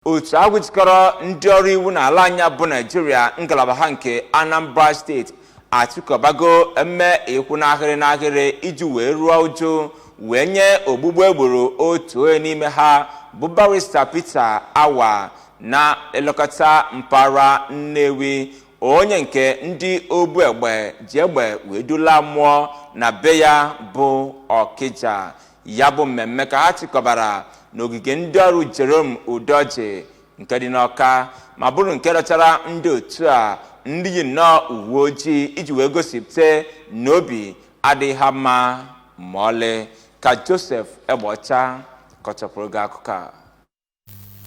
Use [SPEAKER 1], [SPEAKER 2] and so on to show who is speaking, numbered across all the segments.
[SPEAKER 1] otu ahụ jikọrọ ndị ọrụ iwu n'ala anyị a bụ naijiria ngalaba ha nke anambra steeti achịkọbago emume ịkwụ n'ahịrị n'ahịrị iji wee ruo uju wee nye ogbugbu e gburu otu onye n'ime ha bụ barista peter awa na-elekọta mpaghara nnewi onye nke ndị obu egbe ji egbe wee dula mmụọ na be ya bụ ọkịja ya bụ mmemme ka ha chịkọbara n'ogige ndị ọrụ Jerome Udoji nke dị n'Ọka ma bụrụ nke dọchara ndị otu a ndị yi nnọọ uwe ojii iji wee gosipụta na obi adịghị ha mma ma ọlị ka Joseph Egbeọcha kọchapụrụ gị akụkọ a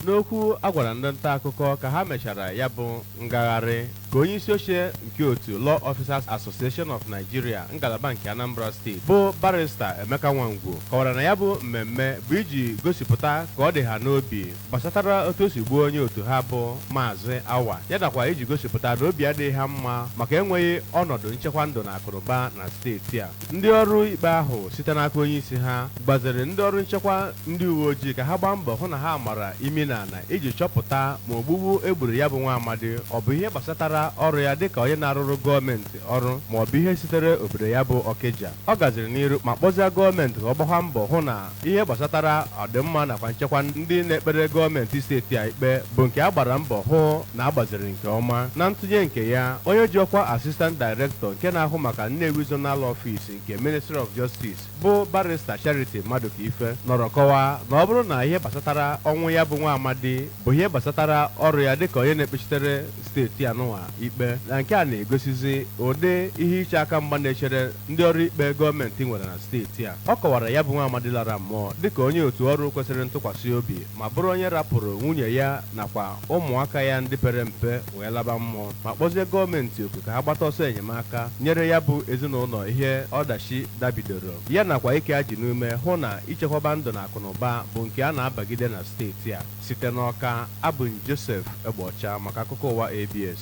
[SPEAKER 1] N'okwu
[SPEAKER 2] a gwara ndị ntaakụkọ ka ha mechara ya bụ ngagharị ka onyeisioche nke otu Law Officers Association of Nigeria ngalaba nke Anambra steeti bụ Barịsta Emeka Nwangwu kọwara na ya bụ mmemme bụ iji gosipụta ka ọ dị ha n'obi gbasatara otu o si gbuo onye otu ha bụ Maazị Awa ya nakwa iji gosipụta na obi adịghị ha mma maka enweghị ọnọdụ nchekwa ndụ na akụnụba na steeti a Ndị ọrụ ikpe ahụ site n'aka onyeisi ha gbaziri ndị ọrụ nchekwa ndị uweojii ka ha gbaa mbọ hụ na ha mara imi n'ala iji chọpụta ma ogbugbu e gburu ya bụ nwa amadi ọ bụ ihe gbasatara ọrụ ya dịka onye na-arụrụ gọọmenti ọrụ ma ọ bụ ihe sitere obodo ya bụ Ọkịja. Ọ gaziri n'iru ma kpọzie gọọmenti ka ọ gbakwa mbọ hụ na Ihe gbasatara ọdịmma nakwa nchekwa ndị na-ekpere gọọmenti steeti a ikpe bụ nke a gbara mbọ hụ na a gbaziri nke ọma. Na ntụnye nke ya, onye ji ọkwa Assistant Director nke na-ahụ maka Nnewi Zonal Office nke Ministry of Justice bụ Barrister Charity Madukaife nọrọ kọwaa na ọ bụrụ na ihe gbasatara ọnwụ ya bụ nwa amadi bụ ihe gbasatara ọrụ ya dịka onye na-ekpechitere steeti anụnwa ikpe na nke a na-egosizi ụdị ihe iche aka mgba na-echere ndị ọrụ ikpe gọọmenti nwere na steeti a. Ọ kọwara ya bụ nwa amadi lara mmụọ dịka onye otu ọrụ kwesịrị ntụkwasị obi ma bụrụ onye rapụrụ nwunye ya nakwa ụmụaka ya ndị pere mpe wee laba mmụọ ma kpọzie gọọmenti oku ka ha gbata ọsọ enyemaka nyere ya bụ ezinụlọ ihe ọdachi dabidoro ya nakwa ike ajị n'ume hụ na ichekwaba ndụ na akụnụba bụ nke a na-abagide na steeti a. Site n'Ọka, abụ m Joseph Egbeọcha maka akụkọ ụwa ABS.